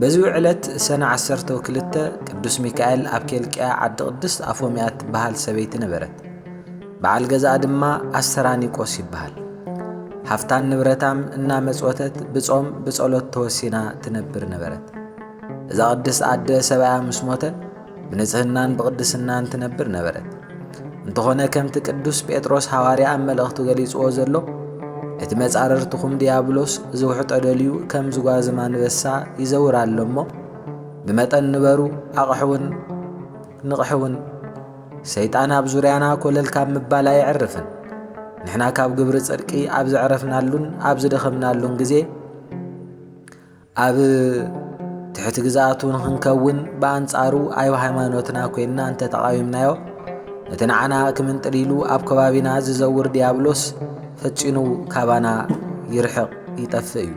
በዚ ዕለት ሰነ ዓሰርተው ክልተ ቅዱስ ሚካኤል ኣብ ኬልቅያ ዓዲ ቅድስት ኣፎምያ እትበሃል ሰበይቲ ነበረት። በዓል ገዛኣ ድማ ኣስተራኒቆስ ይበሃል። ሃፍታን ንብረታም እናመጽወተት ብጾም ብጸሎት ተወሲና ትነብር ነበረት። እዛ ቅድስት ኣደ ሰብኣያ ምስ ሞተ ብንጽህናን ብቕድስናን ትነብር ነበረት። እንተኾነ ከምቲ ቅዱስ ጴጥሮስ ሃዋርያ ኣብ መልእኽቱ ገሊጽዎ ዘሎ እቲ መጻርርትኹም ድያብሎስ ዝውሕጦ ደልዩ ከም ዝጓዝም ኣንበሳ ይዘውር ኣሎ እሞ ብመጠን ንበሩ ኣቕሕውን ንቕሕውን ሰይጣን ኣብ ዙርያና ኮለል ካብ ምባል ኣየዕርፍን ንሕና ካብ ግብሪ ጽድቂ ኣብ ዘዕረፍናሉን ኣብ ዝደኸምናሉን ግዜ ኣብ ትሕቲ ግዝኣቱ ንኽንከውን ብኣንጻሩ ኣብ ሃይማኖትና ኰይንና እንተ ተቓዊምናዮ ነቲ ንዓና ክምንጥል ኢሉ ኣብ ከባቢና ዝዘውር ዲያብሎስ ፈጺኑ ካባና ይርሕቕ ይጠፍእ እዩ።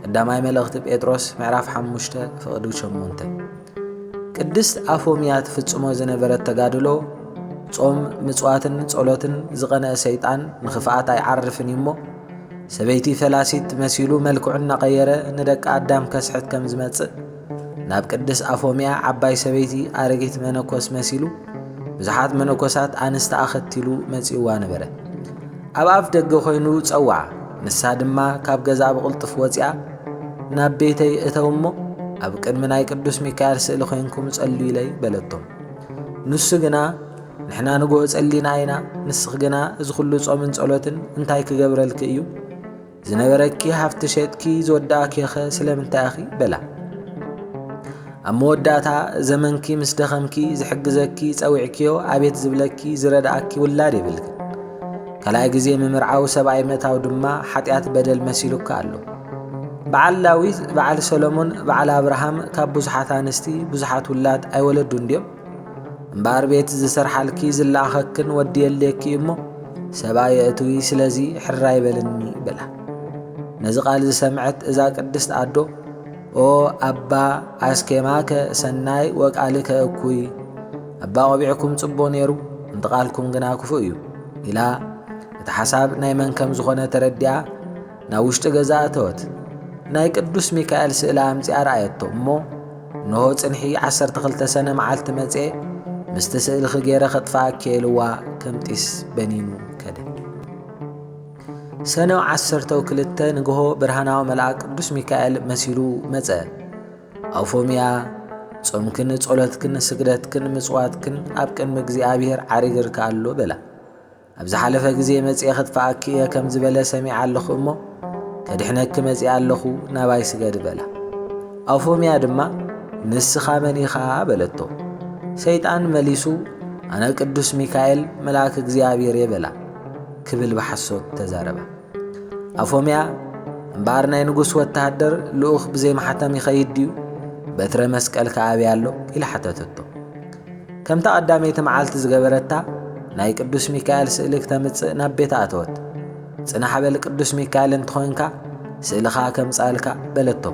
ቀዳማይ መልእኽቲ ጴጥሮስ ምዕራፍ 5 ፍቕዲ 8 ቅድስት ኣፎምያ ትፍጽሞ ዝነበረት ተጋድሎ ጾም ምጽዋትን ጸሎትን ዝቐነአ ሰይጣን ንኽፍኣት ኣይዓርፍን እዩ እሞ ሰበይቲ ፈላሲት መሲሉ መልክዑ እናቐየረ ንደቂ ኣዳም ከስሕት ከም ዝመጽእ ናብ ቅድስ ኣፎምያ ዓባይ ሰበይቲ ኣረጊት መነኮስ መሲሉ ብዙሓት መነኮሳት ኣንስቲ ኣኸቲሉ መጺእዋ ነበረ። ኣብ ኣፍ ደገ ኮይኑ ጸውዓ ንሳ ድማ ካብ ገዛ ብቕልጡፍ ወጺኣ ናብ ቤተይ እተው እሞ ኣብ ቅድሚ ናይ ቅዱስ ሚካኤል ስእሊ ኮይንኩም ጸልዩለይ በለቶም ንሱ ግና ንሕና ንግሆ ጸሊና ኢና፣ ንስኺ ግና እዚ ኹሉ ጾምን ጸሎትን እንታይ ክገብረልኪ እዩ? ዝነበረኪ ሃፍቲ ሸጥኪ ዝወዳእኪኸ ስለምንታይ ኢኺ? በላ። ኣብ መወዳእታ ዘመንኪ ምስ ደኸምኪ ዝሕግዘኪ ጸዊዕኪዮ ኣቤት ዝብለኪ ዝረድኣኪ ውላድ የብልክን። ካልኣይ ግዜ ምምርዓው ሰብኣይ ምእታው ድማ ሓጢኣት በደል መሲሉካ ኣሎ። በዓል ዳዊት፣ በዓል ሰሎሞን፣ በዓል ኣብርሃም ካብ ብዙሓት ኣንስቲ ብዙሓት ውላድ ኣይወለዱን ድዮም? እምበኣር ቤት ዝሰርሓልኪ ዝለኣኸክን ወዲ የድልየኪ እዩ እሞ ሰብኣ የእትዊ ስለዚ ሕራይ በልኒ በላ ነዚ ቃል ዝሰምዐት እዛ ቅድስት ኣዶ ኦ ኣባ ኣስኬማከ ሰናይ ወቃልከ እኩይ ኣባ ቆቢዕኩም ጽቦ ነይሩ እንተ ቃልኩም ግና ክፉእ እዩ ኢላ እቲ ሓሳብ ናይ መን ከም ዝኾነ ተረዲኣ ናብ ውሽጢ ገዛ እተወት። ናይ ቅዱስ ሚካኤል ስእሊ ኣምጺኣ ረኣየቶ እሞ እንሆ ጽንሒ ዓሰርተ ክልተ ሰነ መዓልቲ መጽኤ ምስቲ ስእልኺ ገይረ ከጥፍኣኪ ኢልዋ ከም ጢስ በኒኑ ከደ። ሰነ ዓሰርተው ክልተ ንግሆ ብርሃናዊ መልኣክ ቅዱስ ሚካኤል መሲሉ መጸ። ኣውፎምያ ጾምክን ጸሎትክን ስግደትክን ምጽዋትክን ኣብ ቅድሚ እግዚኣብሔር ዓሪግርካ ኣሎ በላ። ኣብ ዝሓለፈ ግዜ መጺኤ ኽጥፍኣኪ እየ ከም ዝበለ ሰሚዐ ኣለኹ እሞ ከድሕነኪ መጺኣ ኣለኹ ናባይ ስገዲ በላ ኣውፎምያ ድማ ንስኻ መን ኢኻ በለቶ ሰይጣን መሊሱ ኣነ ቅዱስ ሚካኤል መልኣክ እግዚኣብሔር እየ በላ ክብል ብሓሶት ተዛረባ ኣፎምያ እምበኣር ናይ ንጉስ ወተሃደር ልኡኽ ብዘይማሕተም ይኸይድ ድዩ በትረ መስቀል ከኣብያ ኣሎ ኢላ ሓተተቶ ከምታ ቀዳመይቲ መዓልቲ ዝገበረታ ናይ ቅዱስ ሚካኤል ስእሊ ክተምጽእ ናብ ቤት ኣተወት። ጽናሕ በል ቅዱስ ሚካኤል እንተኾይንካ ስእልኻ ከምጻልካ በለቶ።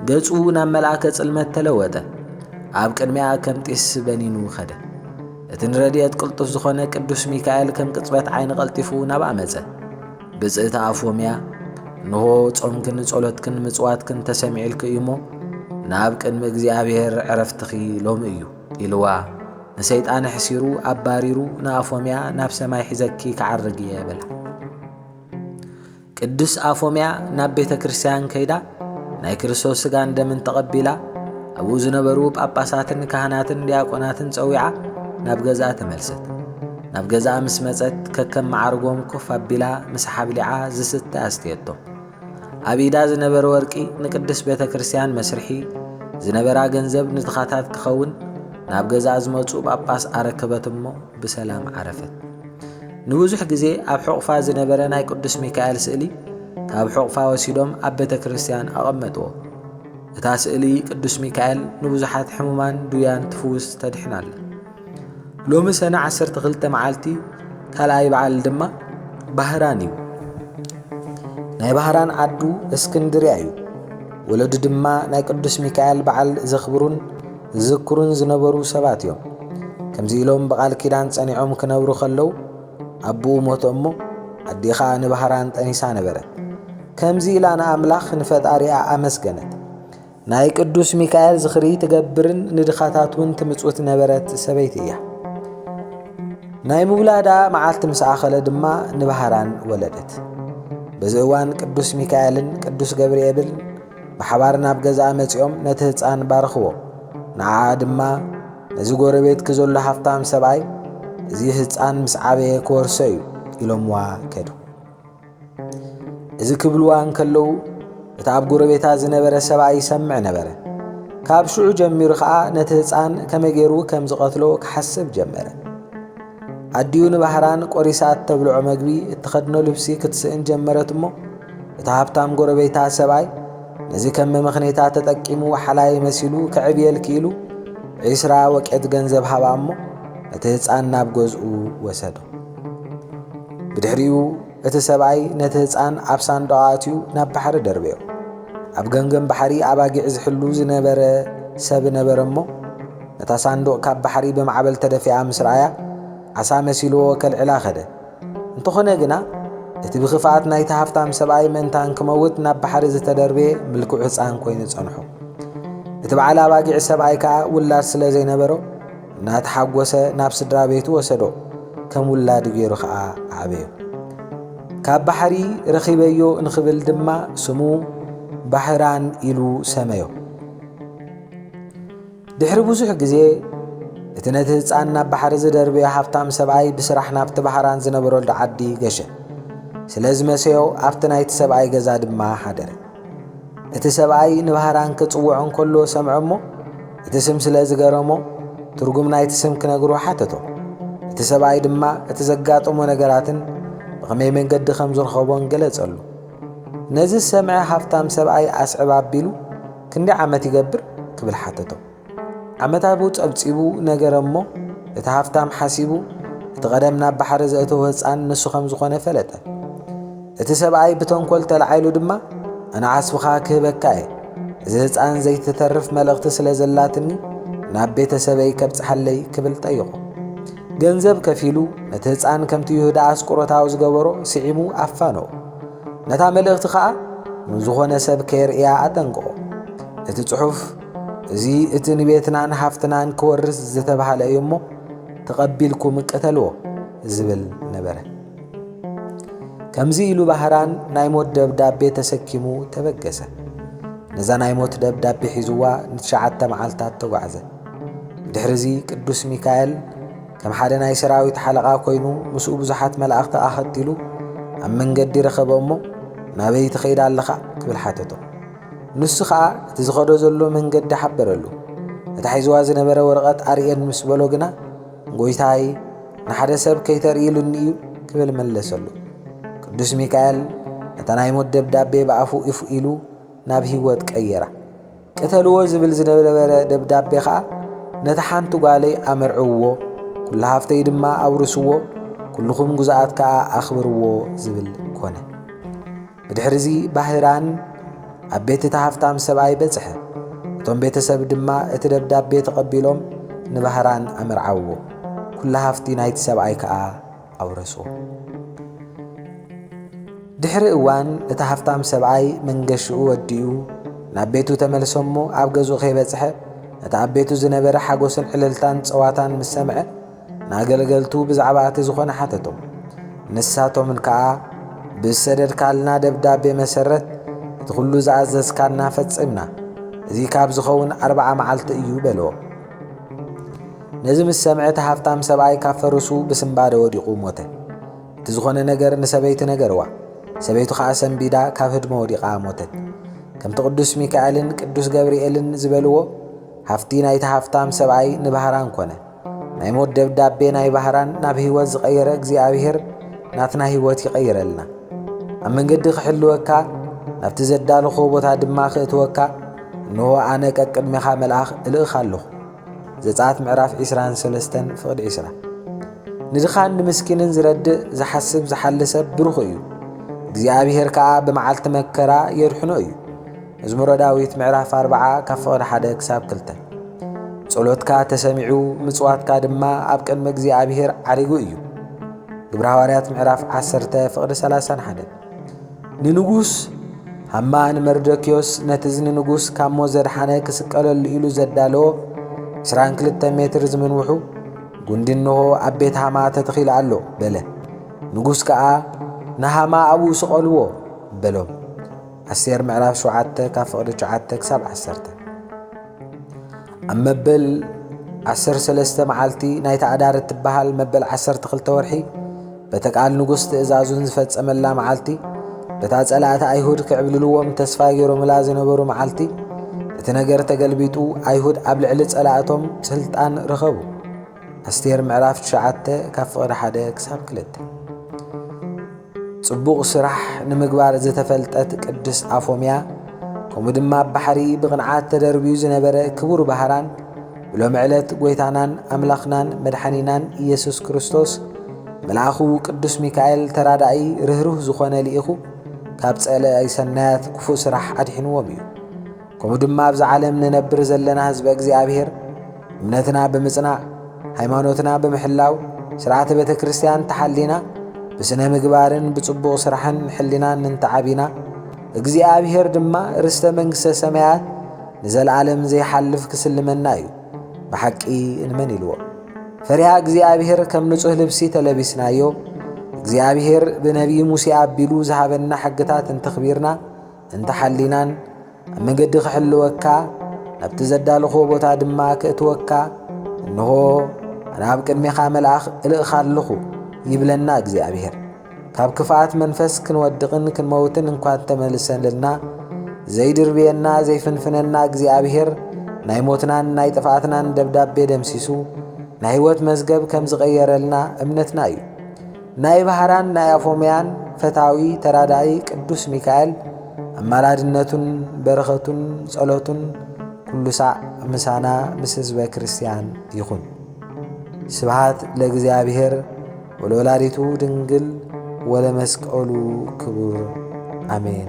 ገጹ ናብ መልኣከ ጽልመት ተለወጠ። ኣብ ቅድሚኣ ከም ጢስ በኒኑ ኸደ። እቲ ንረድኤት ቅልጡፍ ዝኾነ ቅዱስ ሚካኤል ከም ቅጽበት ዓይኒ ቀልጢፉ ናብኣ መጸ። ብጽእቲ ኣፎምያ እንሆ ጾምክን ጸሎትክን ምጽዋትክን ተሰሚዕልኪ እዩሞ ናብ ቅድሚ እግዚኣብሔር ዕረፍትኺ ሎሚ እዩ ኢልዋ ንሰይጣን ሕሲሩ ኣባሪሩ ንኣፎምያ ናብ ሰማይ ሒዘኪ ክዓርግ እየ በላ። ቅዱስ ኣፎምያ ናብ ቤተ ክርስቲያን ከይዳ ናይ ክርስቶስ ስጋን ደምን ተቐቢላ ኣብኡ ዝነበሩ ጳጳሳትን ካህናትን ዲያቆናትን ጸዊዓ ናብ ገዛ ተመልሰት ናብ ገዛ ምስ መጸት ከከም መዓርጎም ኮፍ ኣቢላ ምስ ሓብሊዓ ዝስተ ኣስተየቶም ኣብ ኢዳ ዝነበረ ወርቂ ንቅድስ ቤተ ክርስቲያን መስርሒ ዝነበራ ገንዘብ ንትኻታት ክኸውን ናብ ገዛ ዝመጹ ጳጳስ ኣረከበት እሞ ብሰላም ዓረፈት ንብዙሕ ግዜ ኣብ ሕቑፋ ዝነበረ ናይ ቅዱስ ሚካኤል ስእሊ ካብ ሕቑፋ ወሲዶም ኣብ ቤተ ክርስቲያን ኣቐመጥዎ። እታ ስእሊ ቅዱስ ሚካኤል ንብዙሓት ሕሙማን ድውያን ትፍውስ ተድሕን ኣላ። ሎሚ ሰነ 12 መዓልቲ ካልኣይ በዓል ድማ ባህራን እዩ። ናይ ባህራን ዓዱ እስክንድርያ እዩ። ወለዱ ድማ ናይ ቅዱስ ሚካኤል በዓል ዘኽብሩን ዝዝክሩን ዝነበሩ ሰባት እዮም። ከምዚ ኢሎም ብቓል ኪዳን ጸኒዖም ክነብሩ ከለዉ ኣቡኡ ሞተ እሞ ኣዴኻ ንባህራን ጠኒሳ ነበረት። ከምዚ ኢላ ንኣምላኽ ንፈጣሪኣ ኣመስገነት። ናይ ቅዱስ ሚካኤል ዝኽሪ ትገብርን ንድኻታት እውን ትምጽውት ነበረት ሰበይቲ እያ። ናይ ምውላዳ መዓልቲ ምስ ኣኸለ ድማ ንባህራን ወለደት። በዚ እዋን ቅዱስ ሚካኤልን ቅዱስ ገብርኤብልን ብሓባር ናብ ገዛኣ መጺኦም ነቲ ህፃን ባረኽዎ። ንዓኣ ድማ ነዚ ጎረቤትኪ ዘሎ ሃፍታም ሰብኣይ እዚ ህፃን ምስ ዓበየ ክወርሶ እዩ ኢሎምዋ ከዱ። እዚ ክብልዋ እንከለዉ እቲ ኣብ ጎረቤታ ዝነበረ ሰብኣይ ይሰምዕ ነበረ። ካብ ሽዑ ጀሚሩ ኸዓ ነቲ ህፃን ከመይ ገይሩ ከም ዝቐትሎ ክሓስብ ጀመረ። ኣዲኡ ንባህራን ቆሪሳ እተብልዖ መግቢ እትኸድኖ ልብሲ ክትስእን ጀመረት እሞ እቲ ሃብታም ጎረቤታ ሰብኣይ ነዚ ከም መመኽኔታ ተጠቂሙ ሓላይ መሲሉ ክዕብየል ክኢሉ ዒስራ ወቄት ገንዘብ ሃባ እሞ ነቲ ህፃን ናብ ገዝኡ ወሰዶ ብድሕሪኡ እቲ ሰብኣይ ነቲ ህጻን ኣብ ሳንዱቕ ኣእትዩ ናብ ባሕሪ ደርበዮ። ኣብ ገምገም ባሕሪ ኣባጊዕ ዝሕሉ ዝነበረ ሰብ ነበረ እሞ፣ ነታ ሳንዱቕ ካብ ባሕሪ ብማዕበል ተደፊኣ ምስ ረኣያ፣ ዓሳ መሲልዎ ከልዕላ ከደ። እንተኾነ ግና፣ እቲ ብኽፍኣት ናይቲ ሃፍታም ሰብኣይ ምእንታ እንክመውት ናብ ባሕሪ ዝተደርበየ ምልኩዕ ህጻን ኮይኑ ጸንሑ። እቲ በዓል ኣባጊዕ ሰብኣይ ከኣ ውላድ ስለ ዘይነበሮ፣ እናተሓጎሰ ናብ ስድራ ቤቱ ወሰዶ፣ ከም ውላዱ ገይሩ ከኣ ኣዕበዮ። ካብ ባሕሪ ረኺበዮ እንክብል ድማ ስሙ ባሕራን ኢሉ ሰመዮ። ድሕሪ ብዙሕ ግዜ እቲ ነቲ ህፃን ናብ ባሕሪ ዝደርበዮ ሃብታም ሰብኣይ ብስራሕ ናብቲ ባህራን ዝነበረሉ ዓዲ ገሸ። ስለ ዝመሰዮ ኣብቲ ናይቲ ሰብኣይ ገዛ ድማ ሓደረ። እቲ ሰብኣይ ንባህራን ክጽውዖ እንከሎ ሰምዐ እሞ፣ እቲ ስም ስለ ዝገረሞ፣ ትርጉም ናይቲ ስም ክነግሮ ሓተቶ። እቲ ሰብኣይ ድማ እቲ ዘጋጠሞ ነገራትን ብኸመይ መንገዲ ከም ዝረኸቦን ገለጸሉ። ነዚ ዝሰምዐ ሃብታም ሰብኣይ ኣስዕብ ኣቢሉ፣ ክንደይ ዓመት ይገብር? ክብል ሓተቶ። ዓመታቡ ጸብጺቡ ነገረ እሞ፣ እቲ ሃፍታም ሓሲቡ፣ እቲ ቀደም ናብ ባሕሪ ዘእተዎ ህጻን ንሱ ከም ዝኾነ ፈለጠ። እቲ ሰብኣይ ብተንኮል ተላዒሉ ድማ፣ ኣነ ዓስብኻ ክህበካ እየ፣ እዚ ህጻን ዘይትተርፍ መልእኽቲ ስለ ዘላትኒ ናብ ቤተ ሰበይ ከብጽሓለይ ክብል ጠይቖ። ገንዘብ ከፊሉ ነቲ ህጻን ከምቲ ይሁዳ ኣስቆሮታዊ ዝገበሮ ስዒሙ ኣፋነዎ። ነታ መልእኽቲ ኸኣ ንዝኾነ ሰብ ከየርእያ ኣጠንቅቖ። እቲ ጽሑፍ እዚ እቲ ንቤትናን ሃፍትናን ክወርስ ዝተባህለ እዩ እሞ ተቐቢልኩም ቅተልዎ ዝብል ነበረ። ከምዚ ኢሉ ባህራን ናይ ሞት ደብዳቤ ተሰኪሙ ተበገሰ። ነዛ ናይ ሞት ደብዳቤ ሒዝዋ ንትሽዓተ መዓልታት ተጓዕዘ። ድሕርዚ ቅዱስ ሚካኤል ከም ሓደ ናይ ሰራዊት ሓለቓ ኮይኑ ምስኡ ብዙሓት መላእኽቲ ኣኸቲሉ ኣብ መንገዲ ረኸበ እሞ ናበይ ትኸይድ ኣለኻ ክብል ሓተቶ። ንሱ ኸኣ እቲ ዝኸዶ ዘሎ መንገዲ ሓበረሉ። ነታ ሒዝዋ ዝነበረ ወረቐት ኣርእየኒ ምስ በሎ ግና፣ ጐይታይ፣ ንሓደ ሰብ ከይተርኢ ኢሉኒ እዩ ክብል መለሰሉ። ቅዱስ ሚካኤል ነታ ናይ ሞት ደብዳቤ ብኣፉ እፍ ኢሉ ናብ ህይወት ቀየራ። ቅተልዎ ዝብል ዝነበረ ደብዳቤ ኸኣ ነታ ሓንቲ ጓለይ ኣመርዕውዎ፣ ኵሉ ሃፍተይ ድማ ኣውርስዎ፣ ኵልኹም ግዙኣት ከኣ ኣኽብርዎ ዝብል ኰነ። ብድሕርዚ ባህራን ኣብ ቤት እቲ ሃፍታም ሰብኣይ በጽሐ። እቶም ቤተሰብ ድማ እቲ ደብዳቤ ተቐቢሎም ንባህራን ኣመርዓውዎ። ኩላ ሃፍቲ ናይቲ ሰብኣይ ከኣ ኣውረስዎ። ድሕሪ እዋን እቲ ሃፍታም ሰብኣይ መንገሽኡ ወዲኡ ናብ ቤቱ ተመልሰሞ ኣብ ገዝኡ ከይበጽሐ እቲ ኣብ ቤቱ ዝነበረ ሓጎስን ዕልልታን ጸዋታን ምስ ሰምዐ ናገልገልቱ ብዛዕባ እቲ ዝኾነ ሓተቶም። ንሳቶምን ከኣ ብዝሰደድካልና ደብዳቤ መሰረት እቲ ኹሉ ዝኣዘዝካና ፈጽምና፣ እዚ ካብ ዝኸውን ኣርብዓ መዓልቲ እዩ በልዎ። ነዚ ምስ ሰምዐ እቲ ሃብታም ሰብኣይ ካብ ፈርሱ ብስምባደ ወዲቑ ሞተ። እቲ ዝኾነ ነገር ንሰበይቲ ነገርዋ። ሰበይቱ ኸዓ ሰንቢዳ ካብ ህድሞ ወዲቓ ሞተት። ከምቲ ቅዱስ ሚካኤልን ቅዱስ ገብርኤልን ዝበልዎ ሃፍቲ ናይቲ ሃፍታም ሰብኣይ ንባህራን ኮነ። ናይ ሞት ደብዳቤ ናይ ባህራን ናብ ህይወት ዝቐየረ እግዚኣብሔር ናትና ህይወት ይቐይረልና። ኣብ መንገዲ ክሕልወካ ናብቲ ዘዳለኾ ቦታ ድማ ክእትወካ እንሆ ኣነ ቀቅድሜኻ መልኣኽ እልእኽ ኣለኹ። ዘጸኣት ምዕራፍ 23 ፍቕዲ 20 ንድኻን ንምስኪንን ዝረድእ ዝሓስብ ዝሓሊ ሰብ ብሩኽ እዩ እግዚኣብሔር ከኣ ብመዓልቲ መከራ የድሕኖ እዩ መዝሙረ ዳዊት ምዕራፍ ኣርብዓ ካብ ፍቕሪ ሓደ ክሳብ ክልተ ጸሎትካ ተሰሚዑ ምጽዋትካ ድማ ኣብ ቅድሚ እግዚኣብሔር ዓሪጉ እዩ። ግብረ ሃዋርያት ምዕራፍ ዓሰርተ ፍቕሪ ሰላሳን ሓደ ንንጉስ ሃማ ንመርዶክዮስ ነቲ ንንጉስ ካብ ሞት ዘድሓነ ክስቀለሉ ኢሉ ዘዳለዎ 22 ሜትር ዝምንውሑ ጉንዲ እንሆ ኣብ ቤት ሃማ ተተኺሉ ኣሎ በለ። ንጉስ ከኣ ንሃማ ኣብኡ ስቐልዎ በሎም። ኣስቴር ምዕራፍ ሸውዓተ ካብ ፍቕዲ ትሽዓተ ክሳብ ዓሰርተ ኣብ መበል ዓሰርተ ሰለስተ መዓልቲ ናይታ ኣዳር እትበሃል መበል ዓሰርተ ክልተ ወርሒ በተ ቃል ንጉሥ ትእዛዙን ዝፈጸመላ መዓልቲ በታ ጸላእቲ ኣይሁድ ክዕብልልዎም ተስፋ ገይሮምላ ዝነበሩ መዓልቲ እቲ ነገር ተገልቢጡ ኣይሁድ ኣብ ልዕሊ ጸላእቶም ስልጣን ረኸቡ። ኣስቴር ምዕራፍ 9 ካብ ፍቕሪ ሓደ ክሳብ ክልተ ጽቡቕ ስራሕ ንምግባር ዝተፈልጠት ቅድስት ኣፎምያ፣ ከምኡ ድማ ኣብ ባሕሪ ብቕንዓት ተደርብዩ ዝነበረ ክቡር ባህራን፣ ብሎሚ ዕለት ጐይታናን ኣምላኽናን መድሓኒናን ኢየሱስ ክርስቶስ መልኣኹ ቅዱስ ሚካኤል ተራዳኢ ርህሩህ ዝኾነ ልኢኹ ካብ ጸለኢ ሰናያት ክፉእ ስራሕ ኣድሒንዎም እዩ። ከምኡ ድማ ኣብዛ ዓለም ንነብር ዘለና ህዝበ እግዚኣብሔር እምነትና ብምጽናዕ ሃይማኖትና ብምሕላው ስርዓተ ቤተ ክርስቲያን ተሓሊና ብስነ ምግባርን ብጽቡቕ ስራሕን ሕሊናን እንተዓቢና እግዚኣብሔር ድማ ርስተ መንግሥተ ሰማያት ንዘለዓለም ዘይሓልፍ ክስልመና እዩ ብሓቂ እንመን ኢልዎ ፈሪሃ እግዚኣብሔር ከም ንጹሕ ልብሲ ተለቢስናዮ እግዚኣብሔር ብነቢይ ሙሴ ኣቢሉ ዝሃበና ሕግታት እንተኽቢርና እንተ ሓሊናን ኣብ መገዲ ክሕልወካ ናብቲ ዘዳልኹዎ ቦታ ድማ ክእትወካ እንሆ ኣነ ኣብ ቅድሜኻ መልኣኽ እልእኻ ኣለኹ ይብለና እግዚኣብሔር። ካብ ክፍኣት መንፈስ ክንወድቕን ክንመውትን እንኳ እንተመልሰልና ዘይድርብየና ዘይፍንፍነና እግዚኣብሔር ናይ ሞትናን ናይ ጥፍኣትናን ደብዳቤ ደምሲሱ ናይ ህይወት መዝገብ ከም ዝቐየረልና እምነትና እዩ። ናይ ባህራን ናይ ኣፎምያን ፈታዊ ተራዳኢ ቅዱስ ሚካኤል ኣማላድነቱን በረኸቱን ጸሎቱን ኩሉ ሳዕ ምሳና ምስ ህዝበ ክርስቲያን ይኹን። ስብሃት ለእግዚኣብሔር ወለወላዲቱ ድንግል ወለመስቀሉ ክቡር ኣሜን።